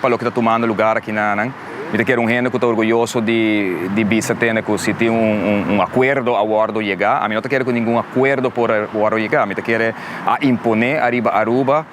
Pa loke ta tumando lugar akinanan, mi ta kere un hende ku ta orguyoso di bisa tende ku si tin un akuerdo a wòrdu yega. Ami no ta kere ku ningun akuerdo por a wòrdu yega. Mi ta kere a imponé ariba Aruba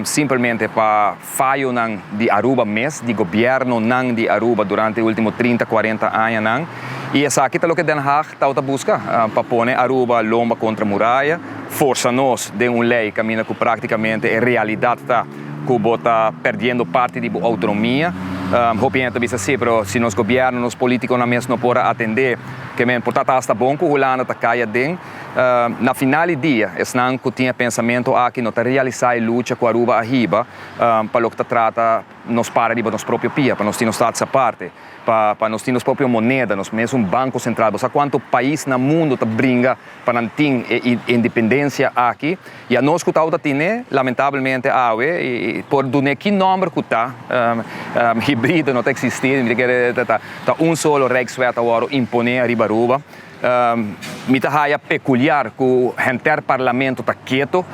simpelmente pa fayonan di Aruba mes, di gobièrnunan di Aruba durante e último trinta, kuarenta añanan. I esaki ta loke Den Haag tawata buska, pa pone Aruba lomba kontra muraya, forsa nos den un lei kaminda ku práktikamente e realidat ta. ku bo ta perdiendo parti di bo outonomia. Hopi hende ta bisa, Sí, pero si nos gobièrnu, nos polítikonan mes no por a atendé ke men, por ta ta hasta bon ku Hulanda ta kai aden? Na final di dia, esnan ku tin e pensamentu aki no ta realisá e lucha ku Aruba a hiba pa loke ta trata nos para riba nos propio pia, pa nos tin nos status aparte, pa pa nos tin nos propio moneda, nos mes un banko sentral. Bo sa kuantu pais na mundu ta bringa pa nan tin e independensia aki? Y a nos cu tau ta tine, lamentablemente awe, y por dun'e ki nomber cu ta, hibrido no ta existi, mi ta kere ta un solo Rijkswet awor impone ariba Aruba. Mi ta haya peculiar cu henter Parlamento ta keto,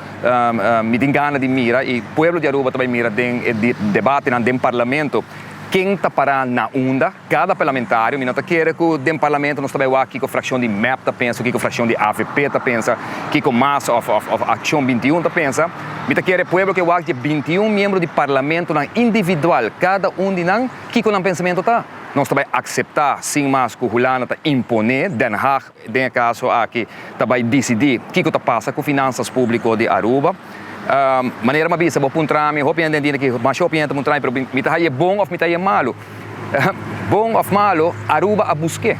mi tin gana di mira y pueblo di Aruba ta bay mira den e debatenan den Parlamento, ken ta para na unda. Kada Parlamentario, mi no ta kere ku den Parlamento nos ta bai wak kiko frakshon di mep ta pensa, kiko frakshon di avp ta pensa, kiko mas òf òf òf Akshon binti un ta pensa. Mi ta kere pueblo ke wak dje binti un miembro di Parlamentonan individual, kada un di nan kiko nan pensamento ta. Nos ta bai akseptá sin mas ku Hulanda ta imponé, Den Haag, den e kaso aki ta bai disidí kiko ta pasa ku finansas públiko di Aruba. Manera m'a bisa bo puntra mi, hopi hende a ntinti ki masha hopi hende ta puntra mi, pero mi ta haña bon òf mi ta haña malu? Bon òf malu, Aruba a busk'é.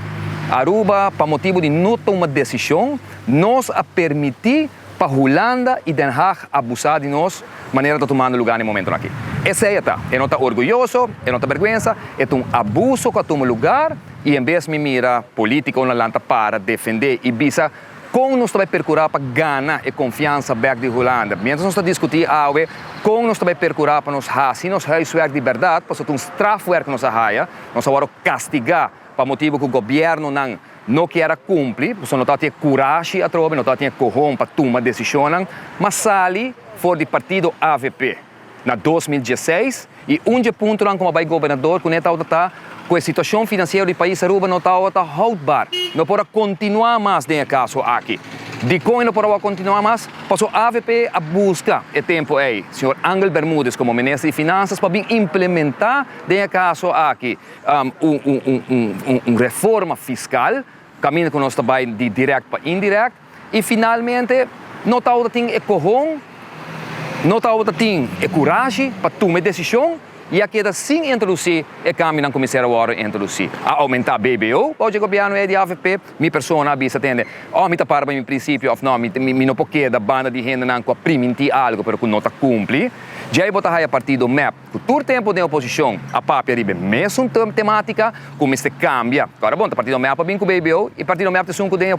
Aruba, pa motibu di no tuma desishon, nos a permití. Pa Hulanda y Den Haag abusa di nos manera ta tumando lugar na e momentonan aki. Esey e ta. E no ta orguyoso, e no ta berguensa, e ta un abuso cu a tuma lugar y en bes mi mira politico na lanta para defende y bisa con nos ta bay percura pa gana e confiansa bek di Hulanda. Mientras nos ta discuti awe con nos ta bay percura pa nos haci nos huiswerk di berdad pasobra ta un strafwerk nos a haya, nos a word castiga pa motibo cu gobiernonan No kier a kumpli pasobra no tabata e kurashi atrobe, no tabata den e kohon pa tuma desishonnan, m'a sali for di partido avp na dos mil dieseis i un dje puntonan kuma bai gobernador kuné tabata ta ku e situashon finansiero di pais Aruba no tabata houdbar. No por a kontinuá mas den e kaso aki. Dikon e no por a wou kontinuá mas? Pasobra avp a buska e tempu ei señor Angel Bermudez komo minister di Finansas pa bin implementá den e kaso aki. un reforma fiskal, kaminda ku nos ta bai di dirèkt pa indirèkt, i finalmente no tabata tin e kohon, no tabata tin e kurashi pa tuma e desishon i a keda sin introdusí e kambionan ku mester a wòrdu introdusí. A oumentá BBO bou dje gobièrnu ei di avp, mi persona a bisa tende òf mi ta para pa mi prinsipio òf nò, mi no por keda banda di hendenan ku a primintí algu pero ku no ta kumpli. Djei bo ta haya partido mep. ku tur tempu den oposishon a papia riba e mesun tematika ku mester kambia. Kòrda bon, ta partido mea pa bin ku BBO i partido mea ta sun ku den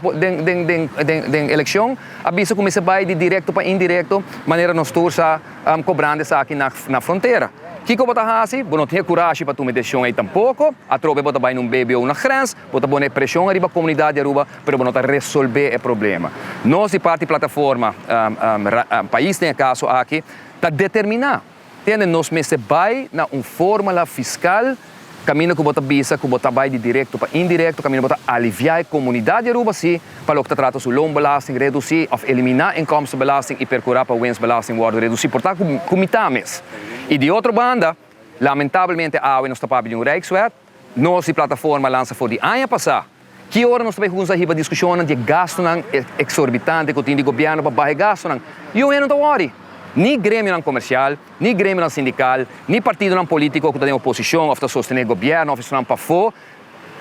elekshon a bisa ku mester bai di direkto pa indirekto manera nos tur sa kobrando esaki na frontera. Kiko bo ta hasi? Bo no tin e kurashi pa tuma e desishon ei tampoko. Atrobe bo ta bai na un BBO na grens, bo ta pone preshon ariba komunidat di Aruba pero bo no ta resolbe e problema. Nos di parti Plataforma Pais den e kaso aki ta determiná. Entiende? Nos mester bai na un fórmula fiskal kaminda ku bo ta bisa ku bo ta bai di direkto pa indirekto, kaminda bo ta aliviá e komunidat di Aruba sí pa loke ta trata su loonbelasting redusí òf eliminá inkomstenbelasting i perkurá pa wensbelasting wòrdu redusí por ta ku mitá mes. I di otro banda, lamentablemente awe nos ta papia di un rijkswet. Nos di Plataforma lansa for di aña pasá ki ora nos ta bai hunza hiba diskushonnan di e gastunan eksorbitante ku tin di gobièrnu pa baha e gastunan. I oveja no ta wòri. Ni gremionan komersial, ni gremionan sindikal, ni partidonan polítiko ku ta den oposishon òf ta sostené gobièrnu òf esnan pafó.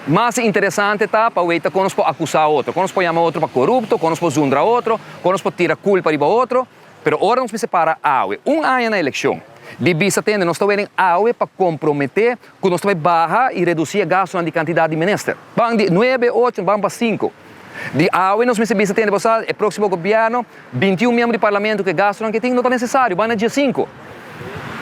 Mas interesante ta pa weta kon nos por akusá otro, kon nos por yama otro pa korupto, kon nos por zundra otro, kon nos por tira kulpa riba otro. Pero ora nos mester para awe, un aña na elekshon, di bista tende nos ta wenen awe pa komprometé ku nos ta bai baha i redusí e gastunan di kantidat di menester. Ban di nuebe, ocho, ban pa sinku. Di awe nos mester bista tende pa sa e próksimo gobièrnu, binti un miembro di parlamentu ku e gastunan ku e tin no ta nesesario, ban na dje sinku.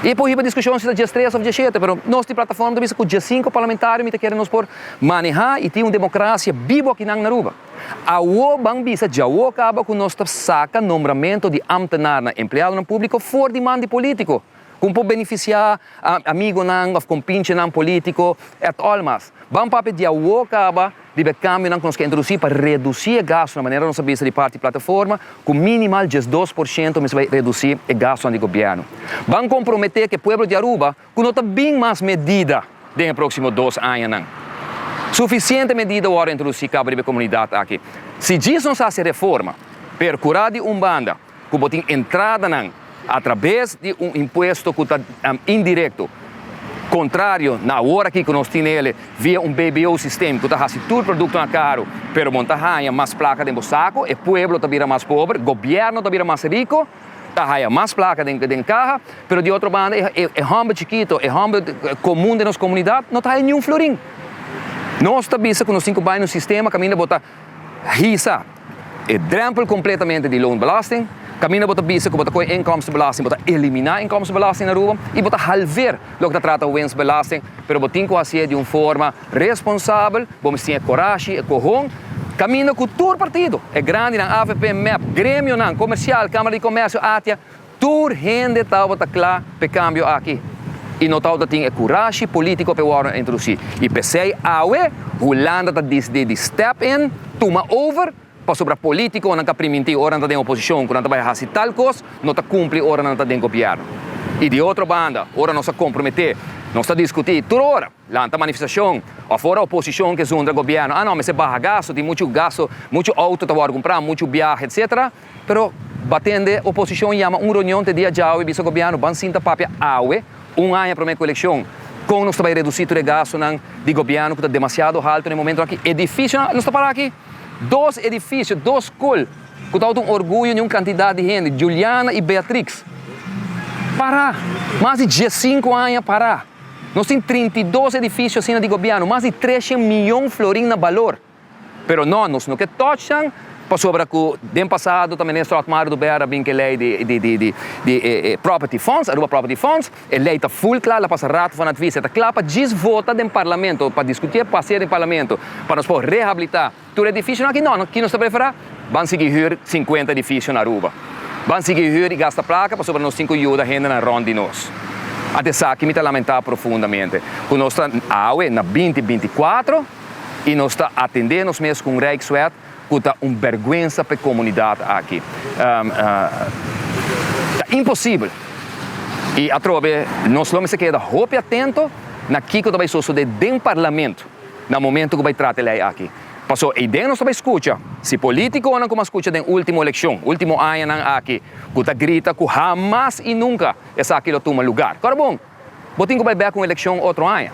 I e por hiba diskushon si ta djes tres òf djes shete, pero nos di Plataforma ta bisa ku djes sinku parlamentario mi ta kere nos por manehá i tin un demokrasia bibu akinan na Aruba. Awo ban bisa djawo kaba ku nos ta saka nombramentu di ámtenarnan, empleadonan públiko, for di man di polítiko, ku por benefisiá amigonan òf kompinchenan polítiko et al. Mas, ban papia di awo kaba riba e kambionan ku nos ke introdusí pa redusí e gastu, na manera nos a bisa di parti Plataforma, ku minimal diesdos por shento mespa redusí e gastunan di gobièrnu. Ban komprometé ku e pueblo di Aruba, ku no ta bin mas medida den e próksimo dos añanan. Sufisiente medida wòrdu introdusí kaba riba e komunidat aki. Si djis nos hasi reforma, perkurá di un banda ku bo tin entradanan atrabes di un impuesto ku ta indirekto, kontrario na awor aki ku nos tene el via un BBO sistem ku ta hasi tur produktonan karu, pero bon ta haña mas plaka den bo sako, e pueblo ta bira mas pober, gobièrnu ta bira mas riko. ta haya mas plaka den den kaha, pero di otro banda e e e homber chikito, e homber komun den nos komunidat no ta haya niun florin. Nos ta bisa ku nos tin ku bai na un sistema kaminda bo ta hisa e drèmpel kompletamente di loonbelasting, kaminda bo ta bisa ku bo ta kohe inkomstenbelasting, bo ta eliminá inkomstenbelasting na Aruba i bo ta halveer loke ta trata wensbelasting, pero bo tin ku hasié di un forma. Responsabel, bo mester tin e corashi, e cohon, caminda cu tur partido, e grandinan, avp, mep, gremionan, comercial, camara di comercio, atia, tur hende taobata cla p'e cambio aki y no taobata tin e curashi politico p'e wordo introduci. Y pesey awe, Hulanda ta disdi di step in, tuma over, pasobra politiconan ca priminti ora nan ta den oposicion cu nan ta bay haci tal cos, no ta cumpli ora nan ta den gobierno. Y di otro banda, ora nos a compromete, nos ta discuti tur ora. Lanta manifestacion. Of ora oposicion ke zundra gobierno, ah no, mester baha gasto, tin muchu gasto, muchu auto ta wòrdu cumpra, muchu biaha, etc. Pero batende oposicion yama un reunion te dia djawe, bisa gobierno, ban sinta papia awe, un aña prome cu eleccion, con nos ta bay reduci tur e gastonan di gobierno cu ta demasiado halto na e momento aki. Edificionan, nos ta para aki, dos edificio, dos scol, cu ta auto un orguyo di un cantidad di hende, Juliana y Beatrix, para, mas di diescinco aña para. Nos tin trinta i dos edifisio asina di gobièrnu, mas di treshen mion florin na balor. Pero nò, nos no ke tòch nan, pasobra ku den pasado ta minister Otmar Dubèr a bin ku e lei di property funds, Aruba Property Funds. E lei ta ful kla, el a pasa ratu van advies, e ta kla pa djis vota den parlamento, pa diskut'é, pa pas'é den parlamento, pa nos por rehabilitá. Tur edifisionan aki? No, ki nos ta preferá? Ban sigui hür sinkuenta edifisio na Aruba. Ban sigui hür i gasta plaka pasobra nos tin ku yuda hendenan rònt di nos. Ante esaki mi ta lamentá profundamente ku nos ta awe na binti binti kuatro i nos ta atendé nos mes ku un Rijkswet ku ta un bèrgwensa pa e komunidat aki. Ta imposibel i atrobe nos lo mester keda hopi atento na kiko ta bai sosodé den parlamento. Na momento ku bai trata e lei aki. Paso eiden nos ta bai skucha si politikonan ku mas skucha den ultimo elekshon, ultimo añanan aki, ku ta grita ku hamas i nunka esaki lo tuma lugar. Kora bon, bo tin ku bai bek un elekshon otro aña.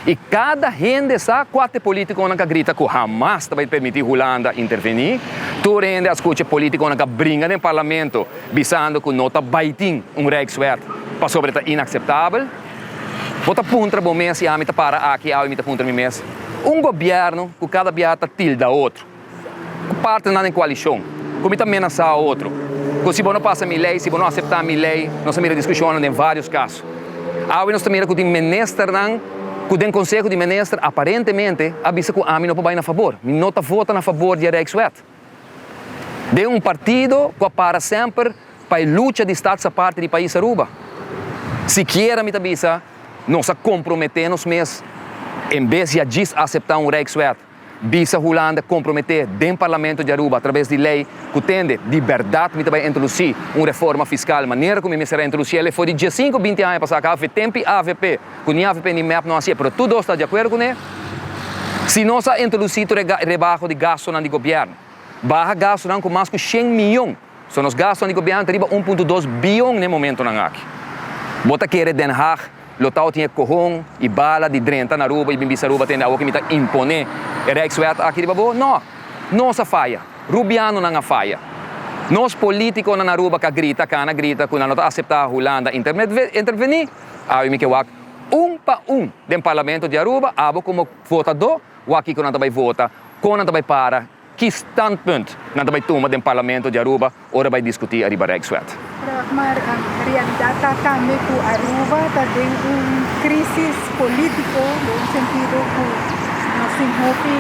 I kada hende sa kua te politikonan ka grita ku hamas ta bai permití Hulanda intervení. Tur hende a skucha politikonan ka bringa den parlamento bisando ku no ta bai tin un rijkswet pasobra ta inakseptabel. Bo ta puntra bo mes i ami ta para aki awe mi ta puntra mi mes, un gobièrnu ku kada biaha ta tilda otro ku parti nan den koalishon, ku mi ta menasá otro ku si bo no pasa mi lei, si bo no aseptá mi lei, nos a mira diskushonnan den vários kaso. Awe nos ta mira ku tin ministernan ku den konseho di minister aparentemente a bisa ku ami no por bai na fabor, mi no ta vota na fabor di e Rijkswet. den un partido cu a para semper pa e lucha di Stats Aparte di Pais Aruba. Sikiera mi ta bisa nos a compromete nos mes en bes di a djis acepta un Rijkswet, bisa Hulanda compromete den Parlamento di Aruba a traves di ley cu tende di berdad mi ta bay introduci un reforma fiscal manera cu mi mester a introduci el efo di diesinco binti aña pasa. Ca avp tempi avp. cu ni afe pende mep no haci e, pero tur dos ta di acuerdo cune, si nos a introduci tur e rebaho di gastonan di gobierno, baha gastonan cu mas cu shen miyon, so nos gastonan di gobierno ta riba un punto dos biyon n'e momentonan aki. Bo ta kere Den Haag lo tao tin e cohon y bala di drenta na Aruba y bin bisa Aruba tende awo cu mi ta impone e Rijkswet aki riba bo? No! Nos a faya! Rubianonan a faya! Nos politiconan na Aruba ca grita, cana grita cu nan lo ta acepta Hulanda interveni. Awe mi ke wak un pa un den Parlamento di Aruba, abo komo votadó, wak kiko nan ta bai vota, kon nan ta bai para, ki standpunt nan ta bai tuma den Parlamento di Aruba ora bai diskutí ariba Rijkswet. Ragmar, Realidat ta tambe ku Aruba ta den un krísis polítiko, den un sentido ku nos tin hopi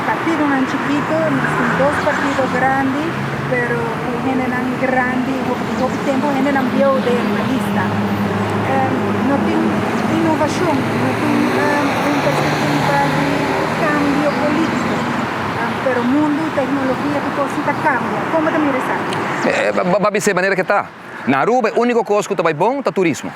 partidonan chikito, nos tin dos partido grandi. Pero cu hendenan grandi y hopi tempo hendenan bieuw den e lista. No tin innovacion, no tin un perspectiva di cambio politico. Pero mundo y tecnologia e tur cos ta cambia. Como ta mira esaki? Bo a bisa e manera cu ta. Na Aruba e unico cos cu ta bay bon ta turismo.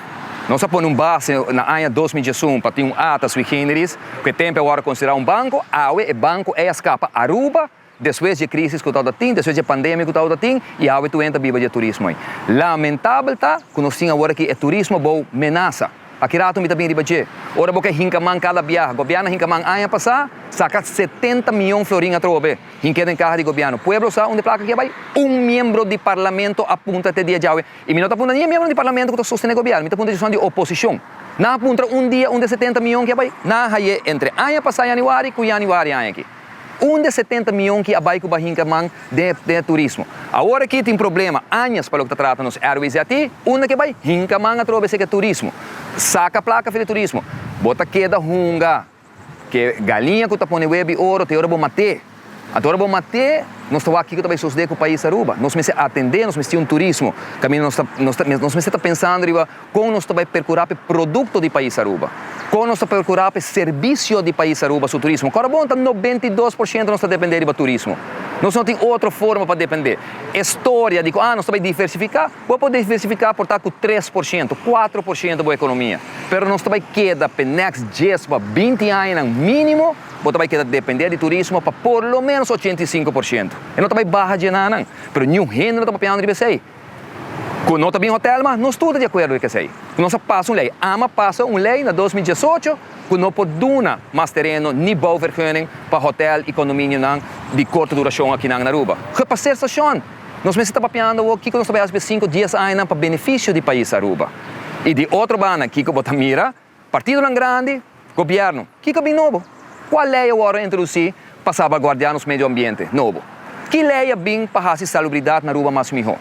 Nos a pone un base na aña dos mil diesun pa tin un ata sui generis cu e tempo e worde considera un banco. Awe e banco ey a scapa Aruba. Despues dje crisis cu tawata tin, despues dje pandemia cu tawata tin y awe tueen ta biba dje turismo ey. Lamentabel ta cu nos tin awor aki e turismo bou menasa. Aki rato mi ta bin riba dje. Ora bo ke hinca man cada biaha, gobierno a hinca man aña pasa, saca setenta miyon florin atrobo be, hink'e den caha di gobierno. Pueblo sa unda e placa kia bay? Un miembro di parlamento a puntra te dia djawe y mi no ta puntra ni e miembro di parlamento cu ta sostene gobierno, mi ta puntra djison di oposicion. Nan a puntra un dia unda e setenta miyon kia bay? Nan a haye entre aña pasa yanuari cu yanuari aña aki. Un de setenta mion ki a bai ku bahinka man den e turismo. Awor aki tin problema, añas pa loke ta trata nos airways di aki, unda ke bai hinka man atrobe esei ke turismo. Saka plaka fi di turismo. Bo ta keda hunga ke galiña ku ta pone web di oro te ora bo mate. Anto ora bo mate nos ta wak kiko ta bai sosde ku pais Aruba. Nos mester atende, nos mester tin un turismo kaminda nos ta nos mester ta pensando riba. Kon nos ta bai perkurá p'e produkto di Pais Aruba? Kon nos ta perkurá p'e servisio di Pais Aruba su turismo? Kòrda bon ta nobenta i dos por shento nos ta dependé riba turismo. Nos no tin otro forma pa dependé. E storia di ku, ah, nos ta bai diversifiká, bo a por diversifiká por ta ku tres por shento, kuatro por shento bo ekonomia, pero nos ta bai keda p'e next djes pa binti añanan mínimo, bo ta bai keda dependé di turismo pa por lo ménos ochenta i sinku por shento. E no ta bai baha dje nan nan, pero niun hende no ta papiando riba esei. Ku no ta bin hotèl mas nos tur ta di akuerdo di kesei. Ku nos a pasa un lei. Ama a pasa un lei na dos mil diesocho ku no por duna mas tereno ni bouvergunning pa hotèl i kondominionan di korte durashon akinan na Aruba. Gepaseerd Station! Nos mester ta papiando awor kiko nos ta bai hasi p'e sinku dies añanan pa benefisio di pais Aruba. I di otro banda kiko bo ta mira? Partidonan grandi, Gobièrnu, kiko bin nobo? Kua lei a wòrdu introdusí pa salvaguardiá nos medio ambiente nobo? Ki lei a bin pa hasi salubridat na Aruba mas mihó?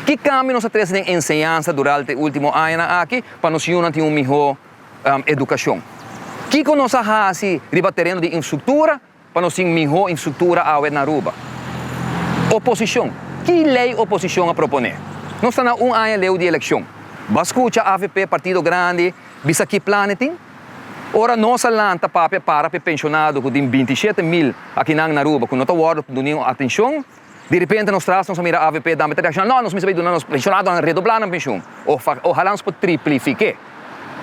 Ki kambio nos a trese den enseñansa duralta e último añanan aki pa nos yunan tin un mihó edukashon? Kiko nos a hasi riba tereno di infstruktura? Pa nos tin mihó instruktura awe na Aruba. Oposishon, ki lei oposishon a proponé? Nos ta na un aña leu di elekshon. Bo a skucha avp, partido grandi, bisa ki plan e tin? Ora nos a lanta papia para pa e penshonado ku tin binti shete mil akinan na Aruba ku no ta wòrdu dunido atenshon, Di repente nos tras nos a mira avp dampe ta tradishonal no nos mester bay duna nos pensionado nan redoblá nan penshon o ohalá nos por triplifiké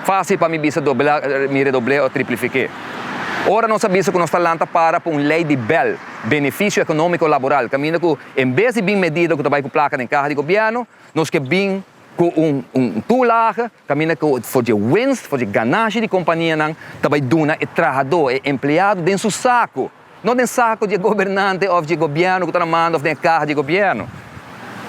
fácil pa mi bisa doblá mi redoblé o triplifiké ora nos a bisa ku nos ta lanta para pa un ley di bèl benefisio ekonómiko laboral kaminda ku en bes di bin medida ku ta bay ku plaka den kaha di gobièrnu nos ke bin ku un un toelage kaminda ku for dje winst for dje ganashi di kompanianan ta bay duna e trahadó e empleado den su saku. No den saku di e gobernante òf di e gobièrnu ku ta na manda òf den e kaha di e gobièrnu.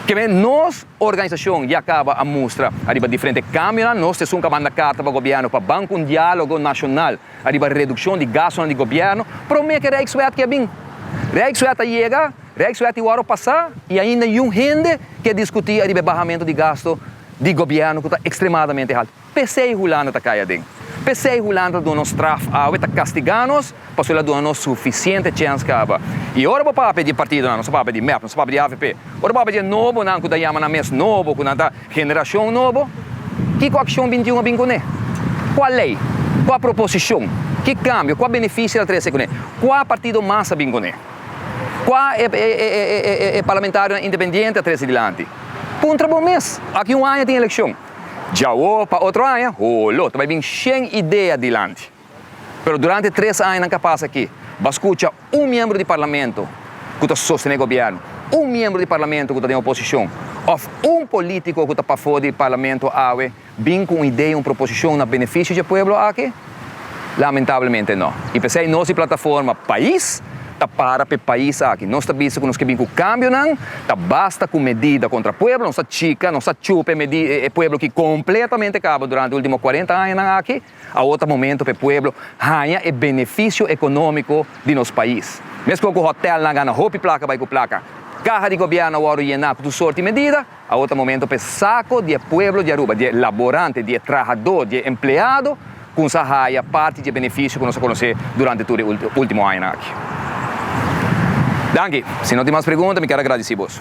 Keme nos organisashon ya kaba a mustra ariba diferente kamionan, nos ta esun kaba a manda karta pa gobièrnu pa ban ku un diálogo nashonal ariba redukshon di gastunan di gobièrnu promé ku e Rijkswet ke a bin. Rijkswet a yega, Rijkswet i wòru pasá i ainda yun hende ke diskutí ariba e bahamentu di gastu di gobièrnu ku ta ekstremadamente haltu. P'esei Hulanda ta kai aden. P'esei Hulanda ta duna nos straf awe, e ta kastigá nos, pasobra el a duna nos sufisiente chèns kaba. I ora bo papia di e partidonan, nos a papia di mep, nos a papia di avp, ora bo papia di e nobonan ku ta yama nan mes nobo, ku nan ta generashon nobo, kiko akshon bintiun a bin kuné? Kua lei? Kua proposishon? Ki kambio? Kua benefisio el a trese kuné? Kua partido mas a bin kuné? Kua e e e e parlamentarionan independiente a trese dilanti? Puntra bo mes. Aki un aña tin elekshon. Djawo pa otro aña, holo, ta bai bin shen idea dilanti. Pero durante tres añanan ka pasa aki. Bo a skucha un miembro di parlamento ku ta sostené gobièrnu, un miembro di parlamento ku ta den oposishon òf un polítiko ku ta pafó di parlamento awe bin ku un idea, un proposishon na benefisio dje pueblo aki? Lamentablemente no. I p'esei nos di Plataforma Pais ta para p'e pais aki. Nos ta bisa ku nos ke bin ku kambionan, ta basta ku medida kontra pueblo, nos ta chika, nos ta chupa e pueblo ki kompletamente kaba durante último kuarenta añanan aki, awor ta momento p'e pueblo haña e benefisio ekonómiko di nos pais. Meskos ku hotèlnan gana hopi plaka bai ku plaka, kaha di gobièrnu a wòrdu yená ku tur sorti medida, Awo ta momento pa e sako di e pueblo di Aruba, di e laborante, di e trahadó, di e empleado kun sa haya parti di e benefisio ku nos a konosé durante tur e último añanan aki. Danki. Si no tin mas pregunta mi kier agradisí bos.